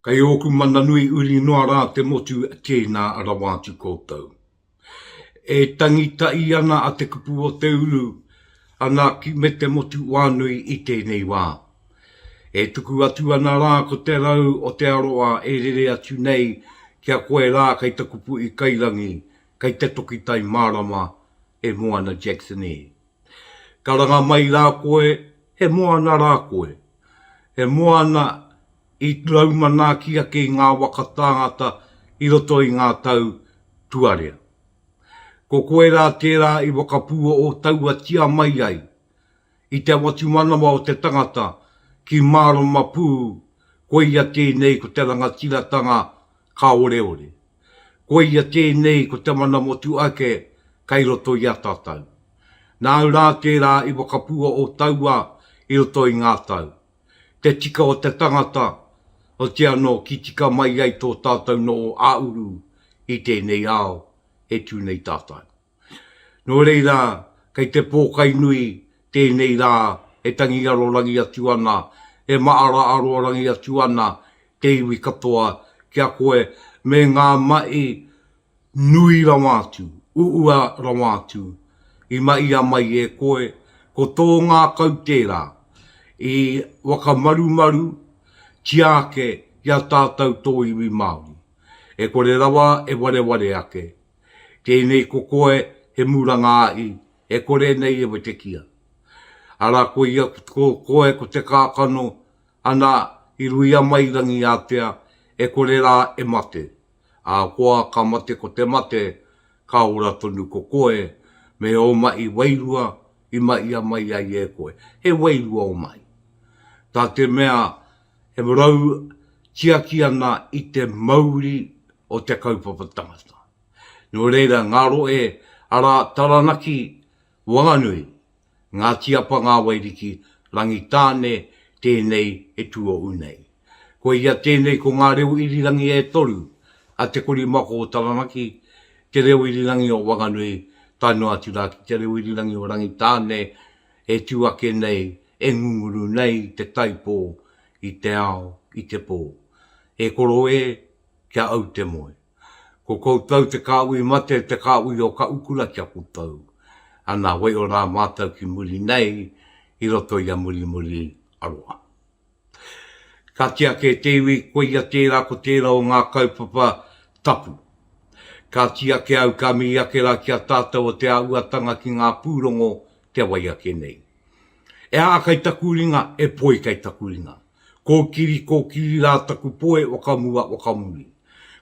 Kei ōku mana nui uri noa rā te motu tēnā rawa atu koutou. E tangi tahi ana a Te Kupu o Te Uru ana ki me te motu wānui i tēnei wā. E tuku atu ana rā ko te rau o te aroa e rere atu nei ki a koe rā kei taku puʻi kairangi, kei te toki tai mārama e Moana Jackson e. Karanga mai rā koe, he moana rā koe. He moana i rau manaaki ake i ngā waka tāngata i roto i ngā tau tuarea. Ko koe rā tērā i whakapuoho tauatia mai ai i te whatumanawa o te tangata ki mārama pū koia tēnei ko te rangatiratanga Kāoreore. Koia tēnei ko te mana motuhake kei roto i a tātou. Nāu rā tērā i whakapua ō tauā i roto i ngā tau. Te tika o te tangata, oti anō ki tika mai ai tō tātou noho ā-uru i tēnei ao e tū nei tātou. Nō reira, kei te pōkai nui tēnei rā e tangi arorangi atu ana, e maara arorangi atu ana te iwi katoa ki a koe me ngā mahi nui rawa atu, uua rawa atu i mahia mai e koe, ko tō ngākau tērā i whakamarumaru tia ake i a tātou tō iwi Māori, e kore rawa e wareware ake. Tēnei ko koe he muranga ahi e kore nei e wetekia. Ara koia ko koe ko te kakano ana i ruia mai rangi atea e kore ra e mate. Akoa ka mate ko te mate ka ora tonu ko koe me o mahi wairua i mahia mai ai e koe. He wairua o mahi. Ta te mea e rau tiaki ana i te mauri o te kaupapa tangata. Nō reira, ngā rohe arā Taranaki, Wanganui, Ngāti Apa, Ngāwairiki, Rangitāne, tēnei e tuohu nei. Koia tēnei ko ngā reo irirangi e toru a Te Korimako o Taranaki, te reo irirangi o Wanganui tae noa atu rā ki te reo irirangi o Rangitāne e tū ake nei, e ngunguru nei te taipō i te ao, i te pō. E koro e! ki a au te moe. Ko koutou te kāhui mate, te kāhui o ka ukura ki a koutou. Ana, waiho rā mātou ki muri nei i roto i a Murimuri aroha. Ka tiaki e te iwi, koia tērā ko tērā o ngā kaupapa tapu. Ka tiaki au ka mihi ake rā ki a tātou o te āhuatanga ki ngā pūrongo kia wai ake nei. E aha kai taku ringa, e poi kai taku ringa? Kōkiri kōkiri rā taku poe wakamua wakamuri.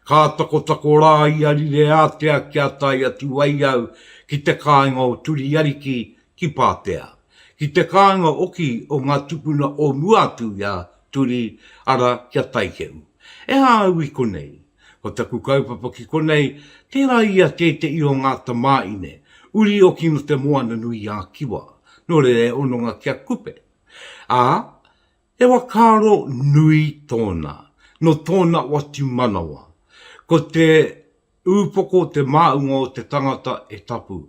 Ka takotako rā i a Rireātea kia tae atu ai au ki te kāinga o Turiariki ki Pātea. Ki te kāinga oki o ngā tupuna o mua atu i a Turi, ara ki a Taikehu. E hā au i konei? Ko taku kaupapa ki konei, tērā i a tēteʻi o ngā tamāine, uri oki no te Moana-nui-ā-Kiwa, no reira e hononga ki a Kupe. Ā, he whakaaro nui tōna, nō tōna watu manawa. Ko te ūpoko te māunga o te tangata e tapu.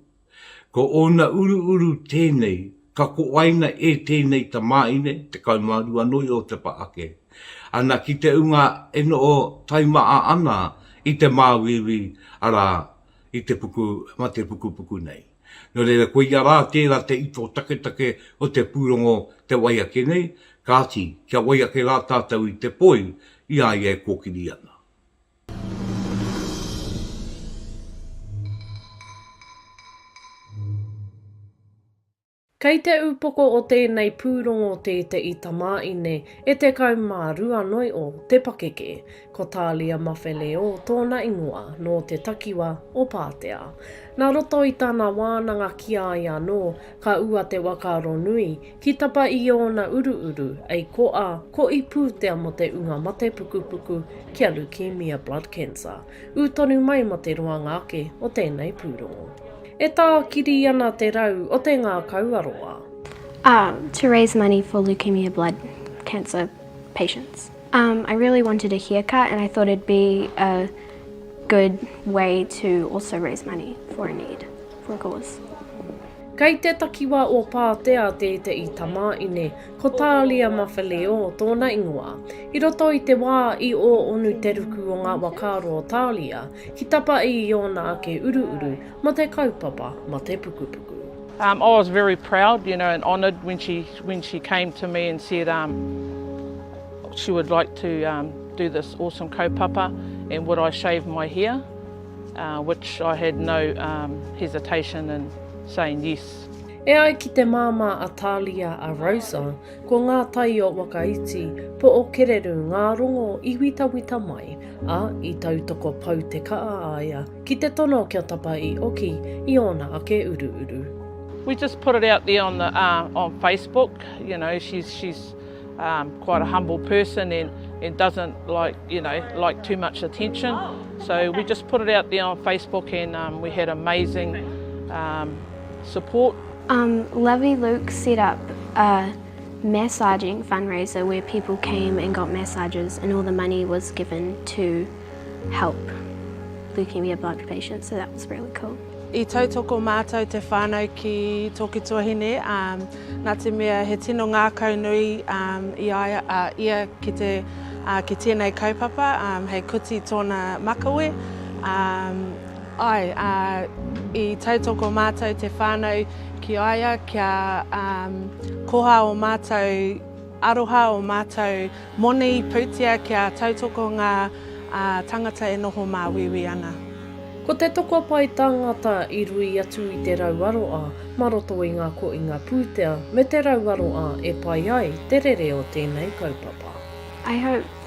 Ko ōna uruuru tēnei, ka koaina e tēnei tamāhine, 12 nō Iotepa ake, ana ki te ūnga e noho taimaha ana i te māuiui, arā, i te puku matepukupuku nei. Nō reira, koia rā tērā te ito taketake o te pūrongo te wai ake nei, kāti, kia wai ake rā tātou i te poi i a ia e kōkiri ana. Kei te upoko o tēnei pūrongo tēteʻi tamāʻine e 12 noi o te pakeke, ko Talia Mafeleō tōna ingoa, nō te takiwa o Pātea. Nā roto i tana wānanga ki a ia anō, ka ua te waka aronui, ki tapa i ōna uruuru, ei koʻa, ko i pūtea mō te unga mate pukupuku kia lukīmia, blood cancer. ū tonu mai mō te roanga ake o tēnei pūrongo. E tākiri ana te rau o te ngākau aroā. Um, to raise money for leukemia blood cancer patients. Um, I really wanted a haircut and I thought it'd be a good way to also raise money for a need, for a cause. Kei te takiwā o Pātea tēteʻi tamāʻine. Ko Tālia Mawheleō tōna ingoa. I roto i te wā i ō onu te ruku o ngā wa kāro o Tālia, ki tapa i i ōna ake uruuru mō te kaupapa matepukupuku. Um, I was very proud, you know, and honoured when she when she came to me and said um, she would like to um, do this awesome kaupapa and would I shave my hair, uh, which I had no um, hesitation in saying yes. E ai ki te māmā a Talia a Rosa, ko ngā tai o Wakaiti, po o Kererū ngā rongo i witawita mai, ā, i tautoko pau te kaa a ia ki te tono kia tapa i oki i ōna ake uruuru. We just put it out there on the uh, on Facebook. You know, she's she's um, quite a humble person and, and doesn't like you know like too much attention. So we just put it out there on Facebook and um, we had amazing um, support. Um lovey Luke set up a massaging fundraiser where people came and got massages and all the money was given to help leukaemia blocked patients so that was really cool. I tautoko mātou te whānau ki tōku tuahine um nā te mea he tino ngākau nui um i a ia ki te uh ki tēnei kaupapa um hei kuti tōna makawe um Āe, ā, i tautoko mātou te whānau ki a ia kia koha ō mātou aroha, ō mātou moni, pūtia kia tautoko ngā tāngata e noho māuiui ana. Ko te tokopae tāngata i rui atu i te rauaroa mā roto i ngā koinga pūtea me te rauaroa e pai ai te rere o tēnei kaupapa. I hope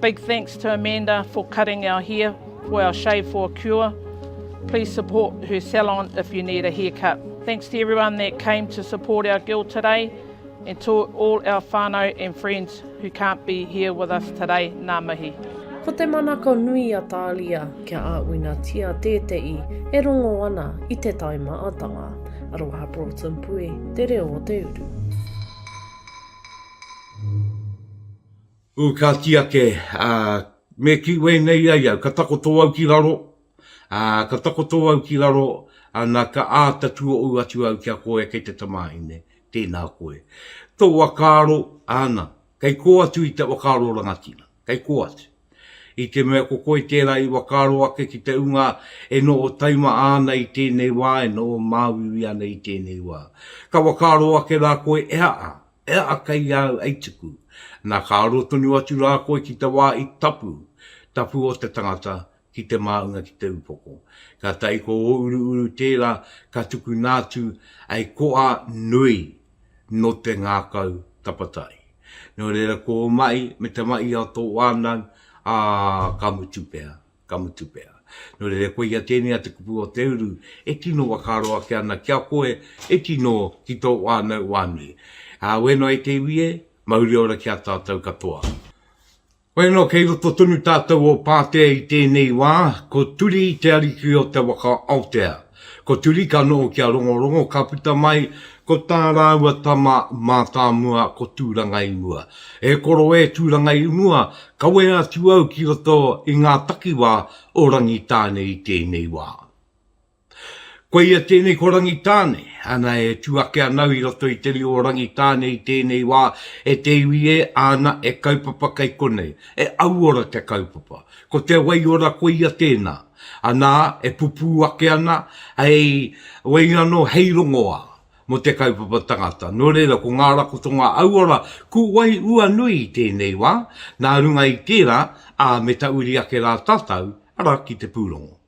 Big thanks to Amanda for cutting our hair for our shave for a cure, please support her salon if you need a hair cut. Thanks to everyone that came to support our girl today and to all our whanau and friends who can't be here with us today, nā mihi. Ko te manako nui a Tālia kia āwinatia tēteʻi e rongo ana i te tai maatanga. Aroha Broughton Pui, Te Reo o te Uru. Ū, ka kī ake, ā, me kī wēnei ai au, ka takoto au ki raro, ā, ka takoto au ki raro, ā, nā, ka āta tuohu atu au ki a koe kei te tamāhine, tēnā koe. Tō whakaaro, āna, kei kō atu i te whakaaro rangatira, kei kō atu. I te mea ko koe tērā i whakaaro ake ki te ūnga e noho taima ana i tēnei wā, e noho māuiui ana i tēnei wā. Ka whakaaro ake rā koe e ha-a, Ea a kei a au ei tuku, na ka aro tonu atu ra koe ki te wa i tapu, tapu o te tangata, ki te maunga ki te upoko. Katai ko o Uruuru tera ka tukuna atu ei koa nui no te ngakau tapatahi. No reira ko o mai me te mahi a to wanau, a ka mutu pea. Ka mutu pea. Nō reira koe ia tēnei a te kupu o te uru e tino whakaaro ake ana ki a koe e tino ki tō whānau wā nui. Ā, wē noa i te iwi e, mauri ora ki a tātou katoa. Wē noa kei roto tonu tātou o Pātea i tēnei wā, ko Turi te ariki o te waka Aotea. Ko Turikano ki a Rongorongo ka puta mai ko tā rāua tama mātāmua ko Tūrangaimua. E koro e Tūrangaimua, kawe atu au ki roto i ngā takiwā o Rangitāne i tēnei wā. Koia tēnei ko Rangitāne, ana e tū ake ana au i roto i te rio o Rangitāne i tēnei wā, e te iwi e, āna e kaupapa kei konei, e auora te kaupapa. Ko te waiora koia tēnā. Anā, e pupū ake ana hei waingano, hei rongoā mō te kaupapa tangata. Nō reira, ko ngā rakotonga auora kū wai ua nui i tēnei wā, nā runga i tērā, ā, me ta uri ake rā tātou, arā, ki te pūrongo.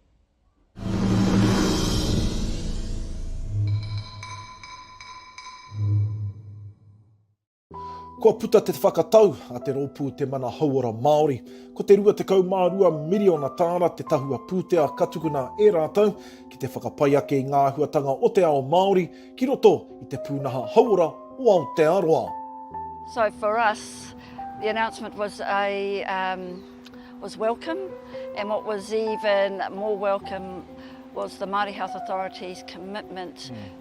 Kua puta te whakatau a te Rōpū Te Mana Hauora Māori, ko te 22 miriona tāra te tahua pūtea ka tukuna e rātou ki te whakapai ake i ngā āhuatanga o te ao Māori ki roto i te pūnaha hauora o Aotearoa. So for us, the announcement was a um, was welcome, and what was even more welcome was the Māori Health Authority's commitment mm.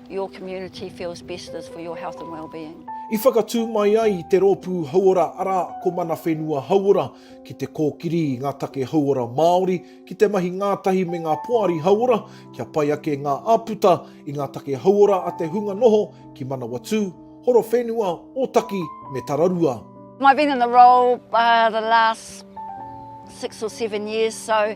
Your community feels best is for your health and wellbeing. I whakatū mai ai i te rōpū hauora arā ko Mana Whenua Hauora ki te kōkiri i ngā take hauora Māori ki te mahi ngātahi me ngā poari hauora kia pai ake ngā āputa i ngā take hauora a te hunga noho ki Manawatū, Horowhenua, Ōtaki me Tararua. I've been in the role the last six or seven years so.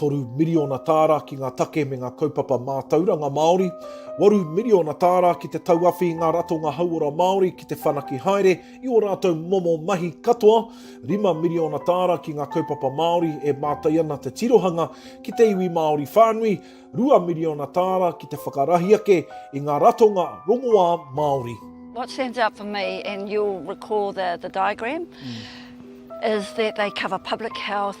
3 miriona tāra ki ngā take me ngā kaupapa mātauranga Māori, 8 miriona tāra ki te tauawhi i ngā ratonga hauora Māori ki te whanaki haere i ō rātou momo mahi katoa, 5 miriona tāra ki ngā kaupapa Māori e mātai ana te tirohanga ki te iwi Māori whānui, 2 miriona tāra ki te whakarahi ake i ngā ratonga rongoā Māori. What stands out for me, and you'll recall the, the diagram, mm. is that they cover public health,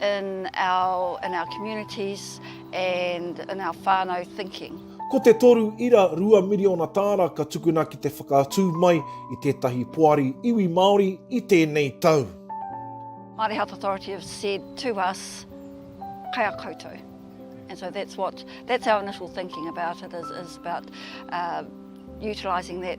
in our in our communities and in our whānau thinking. Ko te toru ira rua miriona tāra ka tukuna ki te whakaatu mai i tētahi poari iwi Māori i tēnei tau. Māori Health Authority have said to us, kai a koutou. And so that's what, that's our initial thinking about it, is, is about uh, utilising that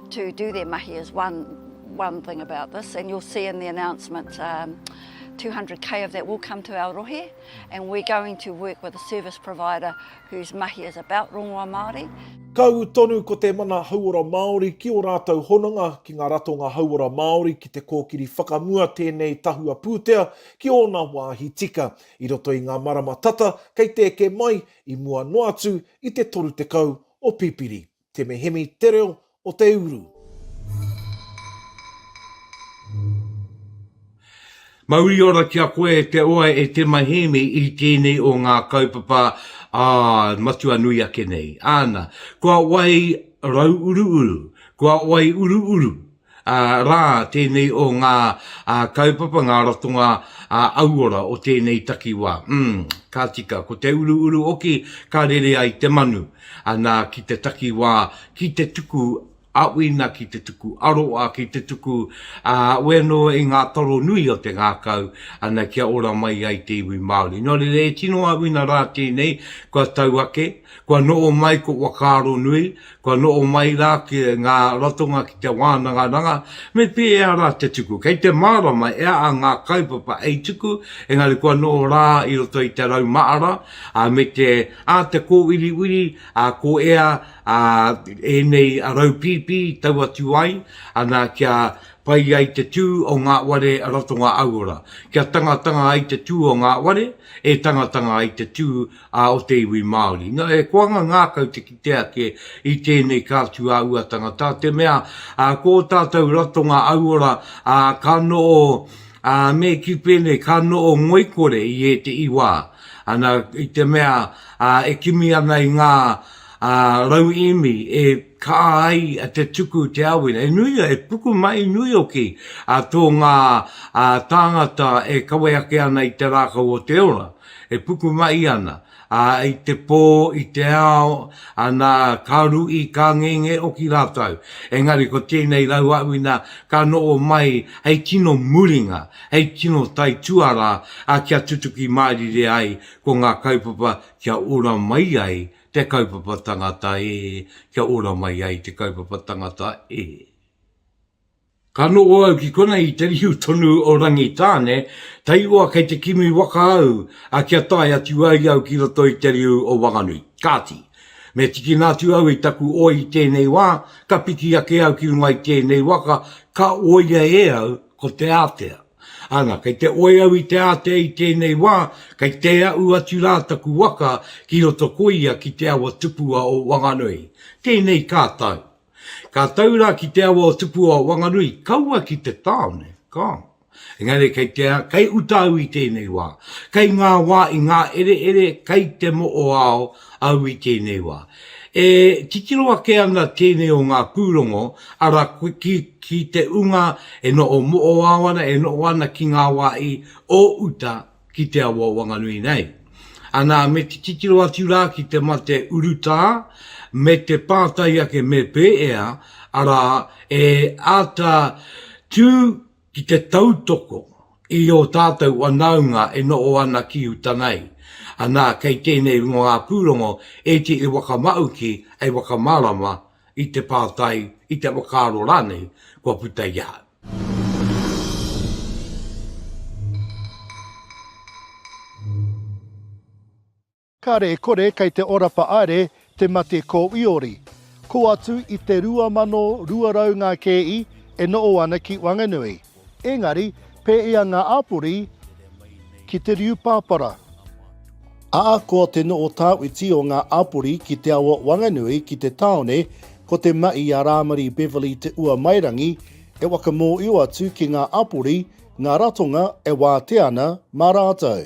to do their mahi is one one thing about this and you'll see in the announcement um, 200k of that will come to our rohe and we're going to work with a service provider whose mahi is about rongoa Māori. Kau tonu ko te mana hauora Māori ki o rātou hononga ki ngā ratonga hauora Māori ki te kōkiri whakamua tēnei tahua pūtea ki ōna wāhi tika i roto i ngā marama tata kei te eke mai i mua noa atu i te 30 o Pipiri. Te Mehemi te reo o te uru. Mauri ora ki a koe e te oa e Te Mahemi i tēnei o ngā kaupapa ā matua nui ake nei. Āna, kua wai rau uruuru, kua wai uruuru. rā tēnei o ngā kaupapa, ngā ratonga auora o tēnei takiwā. Umm, ka tika, ko te uruuru hoki ka rere ai te manu, nā, ki te takiwā, ki te tuku aʻuina, ki te tuku aroa, ki te tuku oe anō i ngā taro nui o te ngākau, ana, kia ora mai ai te iwi Māori. Nō reira, e tino aʻuina rā tēnei, kua tau ake, kua noho mai ko Whakaaronui, Kua noho mai rā ki ngā ratonga ki te wānangaranga, me pēhea rā te tuku. Kei te mārama e a a ngā kaupapa hei tuku, engari kua noho rā i roto i te rau mahara, ā, me te, ā, te kōwiriwiri, ā, ko ea, ā, ēnei rau pīpī tau atu ai, ana, kia pai ai te tū o ngā ware ratonga auora, kia tangatanga ai te tū o ngā ware, e tangatanga ai te tū a o te iwi Māori. Nō he koanga ngākau te kite ake i tēnei ka tu a ua tangata, te mea ko o tātou ratonga auora ka noo, me ki pēnei ka noo ngoikore i ēteʻi wā. Ana, i te mea e kimi ana i ngā rauīmi e kaa ai te tuku te awera, e nui, e puku mai nui hoki tō ngā tāngata e kawe ake ana i te rākau o te ora. E puku mai ana, ā, i te pō, i te ao, ana, ka ruʻi, ka ngenge hoki rātou. Engari ko tēnei rauaʻuina ka noho mai hei tino muringa, hei tino taituarā, ā, kia tutuki mārire ai ko ngā kaupapa kia ora mai ai te kaupapa tangata, ē, kia ora mai ai te kaupapa tangata, ē. Ka noho au ki konei i te riu tonu o Rangitāne, tairoa kei te kimi waka au, a kia tae atu ai au ki roto i te riu o Wanganui. Kāti, me tikina atu au i taku oi i tēnei wā, ka piki ake au ki runga i tēnei waka, ka oia e au ko te ātea. Ana, kei te oi au i te ātea i tēnei wā, kei te aʻu atu rā taku waka ki roto ko ia ki te awa tupua o Wanganui. Tēnei kā tāu. Ka tau rā ki te awa o Tupu o Wanganui, kaua ki te tāone, ka. Engari kei te, kei uta au i tēnei wā. Kei ngā wā i ngā ereere, kei te moʻoao au i tēnei wā. E titiro ake ana tēnei o ngā pūrongo, arā, ki, ki te ūnga e noʻo moʻoao ana, e noʻo ana ki ngā wā i, o uta, ki te awa wanganui nei. Anā, me te titiro atu rā ki te mate urutā me te pātai ake me pēea, arā, e āta tū ki te tautoko i ō tātou whanaunga e noho ana ki uta nei. Anā, kei tēnei runga ngā pūrongo e te whakamāuki hei whakamārama i te pātai, i te whakaaro rānei kua puta i ahau. Kāre e kore kei te ora whaaere te mate ko Iori. Ko atu i te 2200 ngā kēi e noo ana ki Wanganui. Engari, pēia ngā āpori ki te riu pāpara. Ahakoa te noho tāwhiti o ngā āpori ki te awa Wanganui ki te tāone, ko te mahi a Rāmari Beverley Te Uamairangi e whakamōhio atu ki ngā āpori ngā ratonga e wātea ana mā rātou.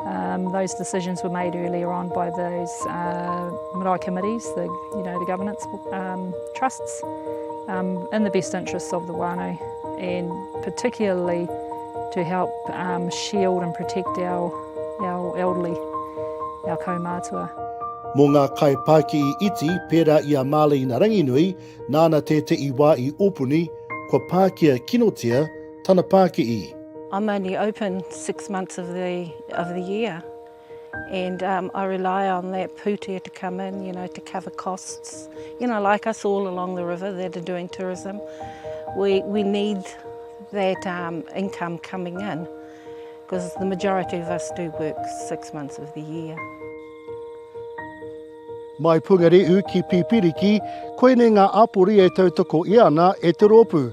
Um, those decisions were made earlier on by those uh, marae committees, the, you know, the governance um, trusts, um, in the best interests of the whānau and particularly to help um, shield and protect our, our elderly, our kaumātua. Mō ngā kaipāki i iti, pērā i a Marlene Ranginui, nāna tētehi wā i opuni, kua pākia kinotia Tana pā ki i. I'm only open six months of the of the year and um, I rely on that pūtea to come in, you know, to cover costs. You know, like us all along the river that are doing tourism, we, we need that um, income coming in because the majority of us do work six months of the year. Mai Pungarehu ki Pipiriki, koinei ngā āpori e tautoko i ana e te rōpū.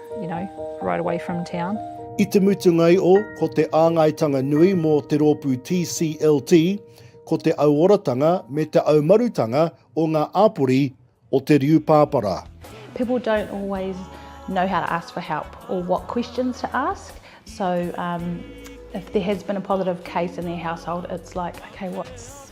you know, right away from town. I te mutunga i o, ko te āngaitanga nui mō te rōpū TCLT, ko te auoratanga me te aumarutanga o ngā āpori o te riu pāpara. People don't always know how to ask for help or what questions to ask. So um, if there has been a positive case in their household, it's like, okay, what's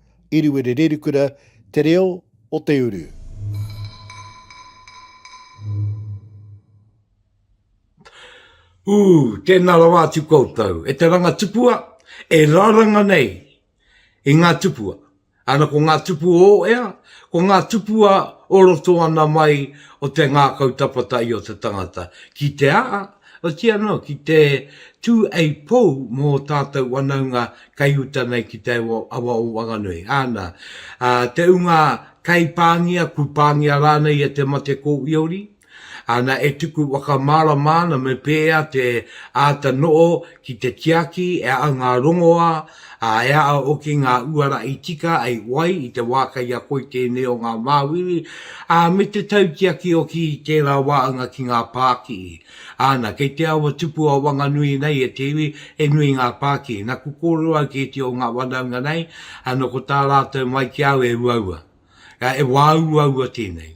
Eruere Rerukura, Te Reo o te Uru. Ooh, tēnā rawa atu koutou. E te ranga tupua, e raranga nei i ngā tupua. Ana ko ngā tupu o ea, ko ngā tupua o roto ana mai o te ngākau tapatahi o te tangata. Ki te a, Otiia anō, ki te tū a i pou mō ō tātou wanaunga kaiuta nei ki te awa o Wanganui, āna, te ūnga kai pāngia, kū pāngia rānei e te mate kōwiori, āna, e tuku whakamārama ana me pēea te āta noho Ki te tiaki e a au ngā rongoā, ā, e a au hoki ngā uara i tika ai wai i te wā kei a koe tēnei o ngā māuiui, ā, me te tautiaki hoki i tērā wāhanga ki ngā pākihi. Āna, kei te awa tupu a Wanganui nei e te iwi, he nui ngā pākihi. Naku kōrero au ki ētahi o ngā whanaunga nei, ā, nō ko tā rātou mai ki au e uaua, ā, e wāuaua tēnei.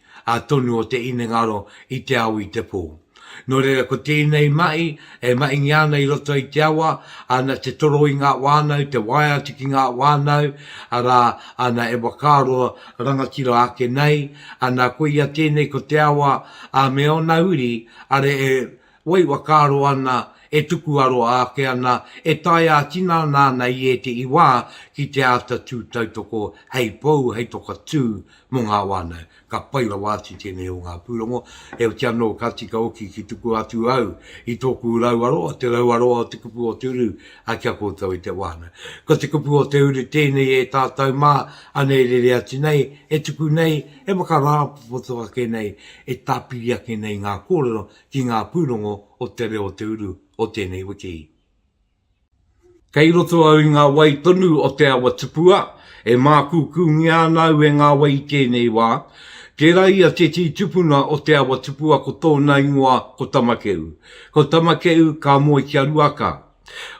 a tonu o te inengaro i te ao i te pō. Nō reira ko tēnei mahi e mahingia ana i roto i te awa, ana te toro i ngā whānau, te waea atu ki ngā whānau, arā, ana e whakaaro rangatira ake nei, ana koia tēnei ko te awa, ā, me ōna uri, are e Wai whakaaro ana, e tuku aroha ake ana, e tae ā-tinana ana i ētehi wā ki te āta tū tautoko hei pou, hei toka tū mō ngā whānau. Ka pai rawa atu tēnei o ngā pūrongo, heoti anō ka tika hoki ki tuku atu au i tōku rauaroa, te rauaroa o te kupu o te uru ki a koutou e te whānau. Ko te kupu o te uru tēnei e tātou mā, anei rere atu nei, e tuku nei, e whakarāpopoto ake nei, e tāpiri ake nei ngā kōrero ki ngā pūrongo o Te Reo Te Uru o tēnei wiki. Kei roto au i ngā wai tonu o Te Awa Tupua, e mākūkūngia ana au e ngā wai i tēnei wā. Tērā ia tētehi tupuna o Te Awa Tupua ko tōna ingoa ko Tamakeʻu. Ko Tamakeʻu ka moe ki a Ruaka,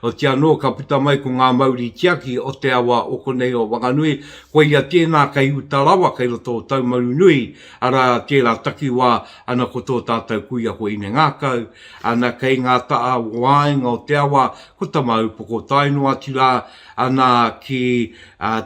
Otiia anō ka puta mai ko ngā mauri tiaki o te awa o konei o Whanganui, koia tēnā kei uta rawa kei roto o Taumaru nui, arā tērā takiwā ana ko tō tātou kuia ko Ine Ngākau, ana kei ngā taha waenga o te awa ko Tamāupoko tae noa atu rā ana ki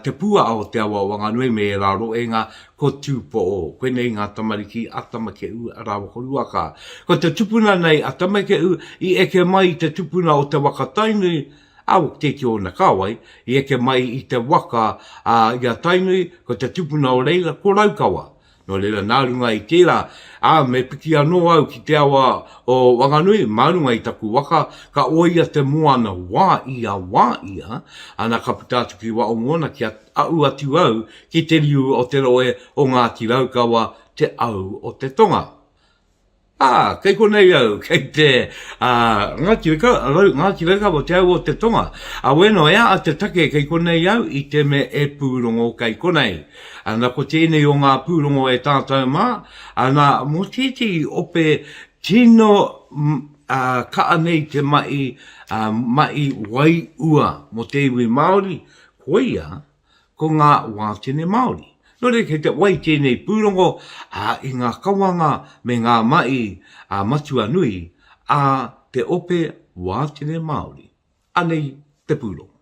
te puaa o te awa o Whanganui me ērā roenga Ko Tūpoʻo, koinei ngā tamariki a Tamakeʻu, a Rawakoruaka. Ko te tupuna nei a Tamakeʻu i eke mai i te tupuna o te waka Tainui, a Woketeti ōna kāwai, i eke mai i te waka i a Tainui, ko te tupuna o reira ko Raukawa. Nō reira, nā runga i tērā, ā, me piki anō au ki te awa o Wanganui, mā runga i taku waka, ka oia te moana wā ia, wā ia, ana ka puta atu ki Waʻomoana ki a. Ahu atu au ki te riu o te rohe o Ngāti Raukawa, te au o te tonga. Ā, kei konei au, kei te, ā, Ngāti Rau, Ngāti Raukawa, te au o te tonga. Ā, wēnā, e āa te take kei konei au i te mea e pūrongo kei konei. Ā, nā, ko tēnei o ngā pūrongo e tātou mā, ā, nā, mō tētehi ope tino, ā, kaha nei te mahi, ā, mahi wai ua mō te iwi Māori, Koia ko ngā wātene Māori. Nō reira kei te wai tēnei pūrongo i ngā kawanga me ngā mahi matua nui a te ope wātene Māori. Anei te pūrongo.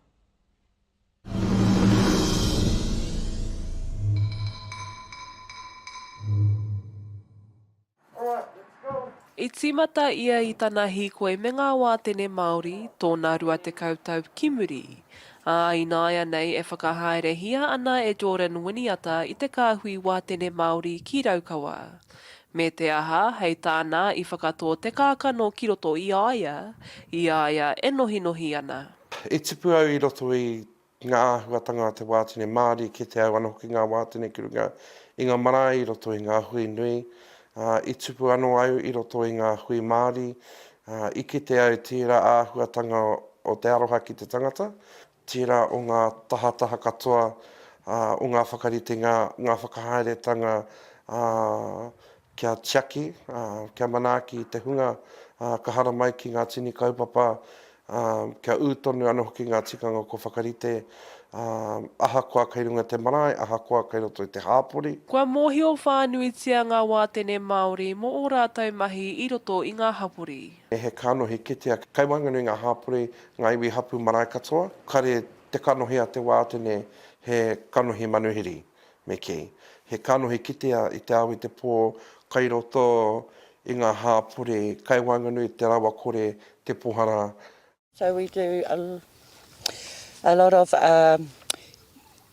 I tīmata ia i tana hīkoi me ngā wātene Māori tōna rua tekau tau ki muri, ā, ināianei e whakahaerehia ana e Jordan Winiata i te kāhui wātene Māori ki Raukawa. Me te aha, hei tāna i whakatō te kākano ki roto i a ia, i a ia e nohinohi ana. I tipu au i roto i ki ngā āhuatanga a te wātene Māori ki te au ana hoki ngā wātene ki runga i ngā marae i roto i ngā hui nui, ā, i tupu anō au i roto i ngā hui Māori, ā, i kite au tērā āhuatanga o te aroha ki te tangata, tērā o ngā tahataha katoa, ā, o ngā whakaritenga, ngā whakahaeretanga, ā, Kia tiaki, kia manaaki te hunga ka haramai ki ngā tini kaupapa, kia ū tonu ana hoki ngā tikanga kua whakarite, ahakoa kei runga te marae, ahakoa kei roto i te hāpori. Kua mōhio whānuitia ngā wātene Māori mō ō rātou mahi i roto i ngā hapori. He kanohi kitea kei waenganui i ngā hāpori, ngā iwi hapū marae katoa. Kāre te kanohi a te wātene he kanohi manuhiri. Me kī, he kanohi kitea i te ao i te pō, kai roto i ngā hāpori, kai waenganui i te rawakore, te pohara, So we do a lot of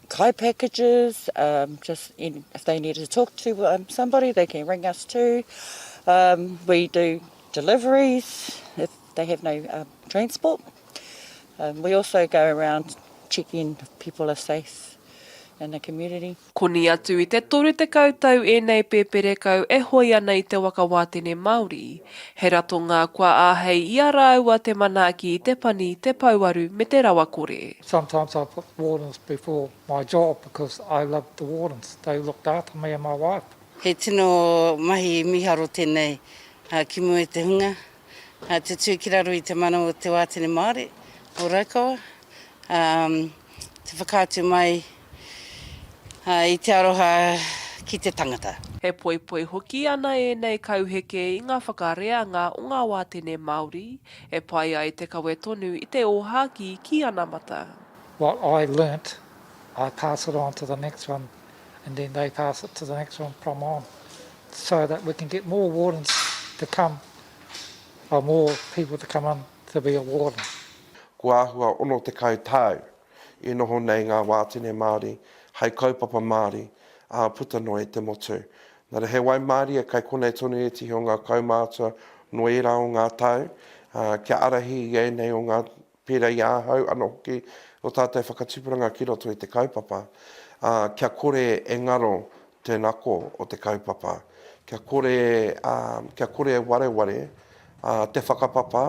kai packages, just if they need to talk to somebody they can ring us too, we do deliveries, They have no transport. We also go around checking if people are safe in the community. Koni atu i te toru tekau tau ēnei pēperekau e hoe ana i te waka wātene Māori. He ratonga kua āhei i a rāua te manaaki i te pani, te pouaru me te rawakore. Sometimes I put wardens before my job because I loved the wardens, they looked after me and my wife. He tino mahi miharo tenei ki mua i te hunga. Ā, tutū ki raro i te mana o te wātene Māori o Raukawa, ā, te whakaatu mai, ā, i te aroha ki te tangata. He poipoi hoki ana ēnei kauheke i ngā whakareanga o ngā wātene Māori e pai ai te kawe tonu i te ōhākī ki anamata. What I learnt, I pass it on to the next one and then they pass it to the next one from on so that we can get more wardens to come, or more people to come on to be a warden. Kua āhua 60 tau i noho nei ngā wātene Māori hai kaupapa Māori ā puta noa i te motu. Nā reira he waimarie kai konei tonu e tihi o ngā kaumātua noa ērā o ngā tau kia ārahi i ēnei o ngā pērā i ahau anō hoki, ō tātou whakatipuranga ki roto i te kaupapa, ā, kia kore e ngaro te nako o te kaupapa, kia kore, ā, kia kore e wareware, ā, te whakapapa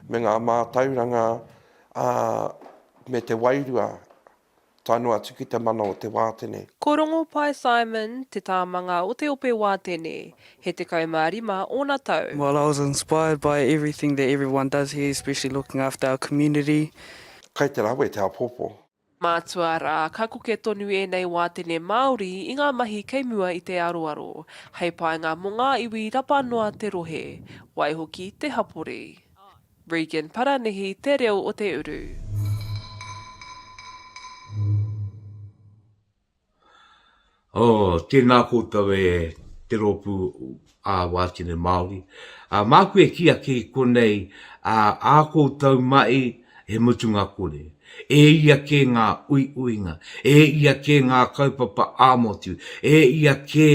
me ngā mātauranga, ā, me te wairua. tae noa atu ki te mana o te wātene. Ko Rongopai Simon te tāmanga o te ope wātene, he 15 ōna tau. Well I was inspired by everything that everyone does here especially looking after our community. Kai te rawe te apopo. Mātua, arā, ka koke tonu ēnei wātene Māori i ngā mahi kei mua i te aroaro, hei painga mō ngā iwi rapa noa te rohe, waihoki te hapori. Regan Paranihi te reo o te uru. Oh, tēnā koutou e te Rōpū ā Wātene Māori. Ā, māku e kī ake i konei, ā, ā koutou mahi he mutunga kore. E ia kē ngā uiuinga, e ia kē ngā kaupapa ā-motu, e ia kē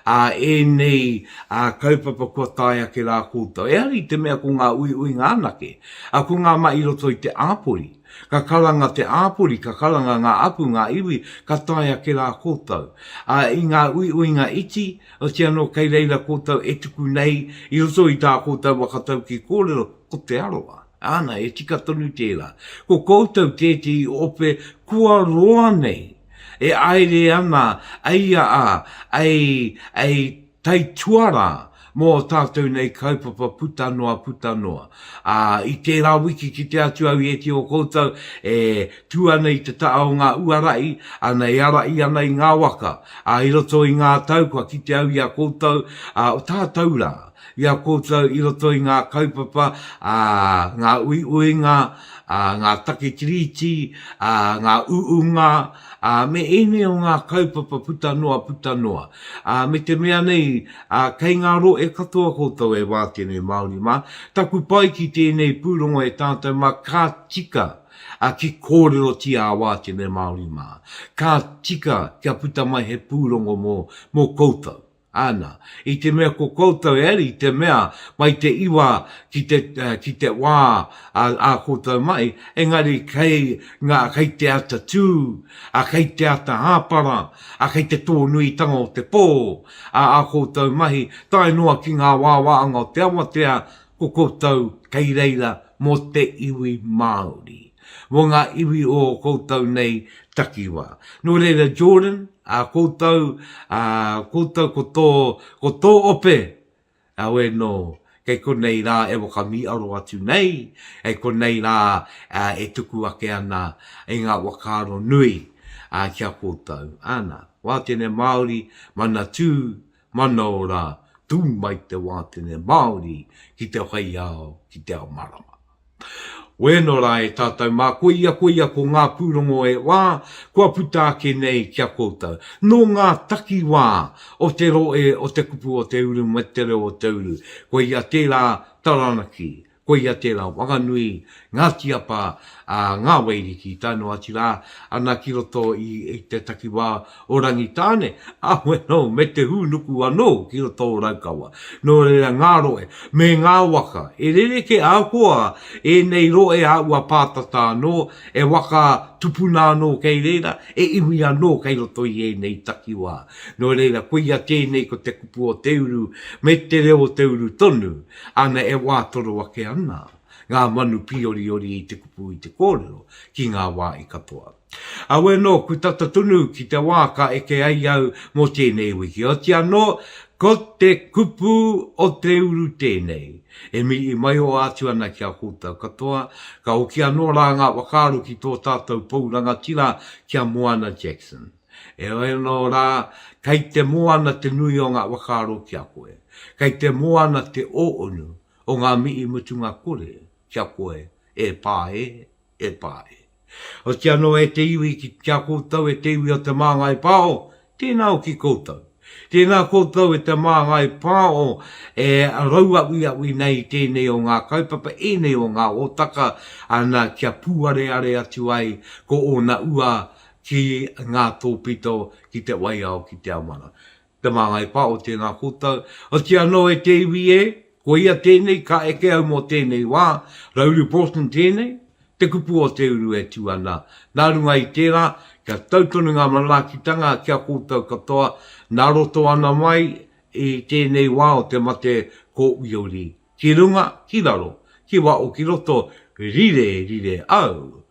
ā ēnei ā kaupapa kua tae ake rā koutou. Ehara i te mea ko ngā uiuinga anake, ā, ko ngā mahi i roto i te āpori. Ka karanga te āpori, ka karanga ngā apu, ngā iwi, ka tae ake rā koutou. Ā, i ngā uiuinga iti, otiia anō kei reira koutou e tuku nei i roto i tā koutou waka tauki kōrero, ko Te Arawa. Āna, e tika tonu tērā. Ko koutou tētehi ope kua roa nei, e āere ana ai a a, ai, ai taituarā mō tātou nei kaupapa puta noa, puta noa. Ā, i tērā wiki kite atu au i ētehi o koutou e tū ana i te taha o ngā uarahi, āna, e arahi ana i ngā waka, ā, i roto i ngā tau kua kite au i a koutou, ā, o tātou rā, i a koutou i roto i ngā kaupapa, ā, ngā uiuinga, ā, ngā take tiriti, ā, ngā uunga, ā, me ēnei o ngā kaupapa puta noa, puta noa. Ā, me te mea nei, ā, kei ngā rohe katoa koutou e wātene Māori mā, taku pai ki tēnei pūrongo e tātou mā, ka tika, ā, ki kōrerotia a wātene Māori mā. Ka tika kia puta mai he pūrongo mō, mō koutou. Ana, i te mea ko koutou e ari te mea mai te iwa ki te, ki te wā a, a koutou mai, engari kei ngā, kei te ata tū, ā, kei te ata hāpara, ā, kei te tōnuitanga o te pō, ā, ā koutou mahi tae noa ki ngā wāwāanga o te awatea, ko koutou kei reira mō te iwi Māori. mō ngā iwi o ō koutou nei takiwā. Nō reira, Jordan, ā koutou, ā koutou ko tō, ko tō ope, auē nō, kei konei rā e whakamīaro atu nei, kei konei rā e tuku ake ana i ngā whakaaro nui ki a koutou. Ana, wā tēnei Māori, Manatū, Manao rā, tū mai te wātene Māori ki te whai ao, ki te ao marama. Wēno rā e tātou mā, koia, koia ko ngā pūrongo e wā, kua puta ake nei ki a koutou. Nō ngā takiwā o te roe, o te kupu o te uru me te reo o te uru, koia tērā taranaki, Koia tērā Whanganui, Ngāti Apa, ā, ngā Waiariki tae noa atu rā, ana ki roto i te takiwā o Rangitāne, ā, bueno, me te hūnuku anō ki roto o Raukawa. Nō reira ngā rohe me ngā waka e rerekē ahakoa ēnei rohe āua pātata anō, e waka tupuna anō kei reira, e iwi anō kei roto i ēnei takiwā. Nō reira koia tēnei ko te kupu o te uru me te reo o te uru tonu, Ana e wātoro ake ana ngā manu pīoriori i te kupu i te kōrero ki ngā wāhi katoa. Aue nō, ku tata tonu ki te wā ka eke ai au mō tēnei wiki, oti anō, ko te kupu o te uru tēnei. E mihi maio atu ana ki a koutou katoa, ka hoki anō rā ngā whakaaro ki tō tātou pou rangatira ki a Moana Jackson. Heoi anō rā, kei te moana te nui o ngā whakaaro ki a koe. Kei te moana te ōunu o ngā mihi mutunga kore ki a koe, e pā e, e pā e. Oti anō e te iwi ki a koutou e te iwi o Te Māngai Pāho, tēnā hoki koutou. Tēnā koutou e Te Māngai Pāho e rauawiawi nei i tēnei o ngā kaupapa, ēnei o ngā hōtaka, ana kia pūareare atu ai ko ōna ua ki ngā tōpito ki te waiao ki Te Amara. Te māngai pā o tēnā koutou, otiia anō e te iwi e, koia tēnei ka eke au mō tēnei wā, Rauru Broughton tēnei, te kupu o te uru e tū ana. Nā runga i tērā, kia tau tonu ngā manaakitanga ki a koutou katoa, nā roto ana mai i tēnei wā o te mate kōuiuri. Ki runga, ki raro, ki waho ki roto, rire, rire au,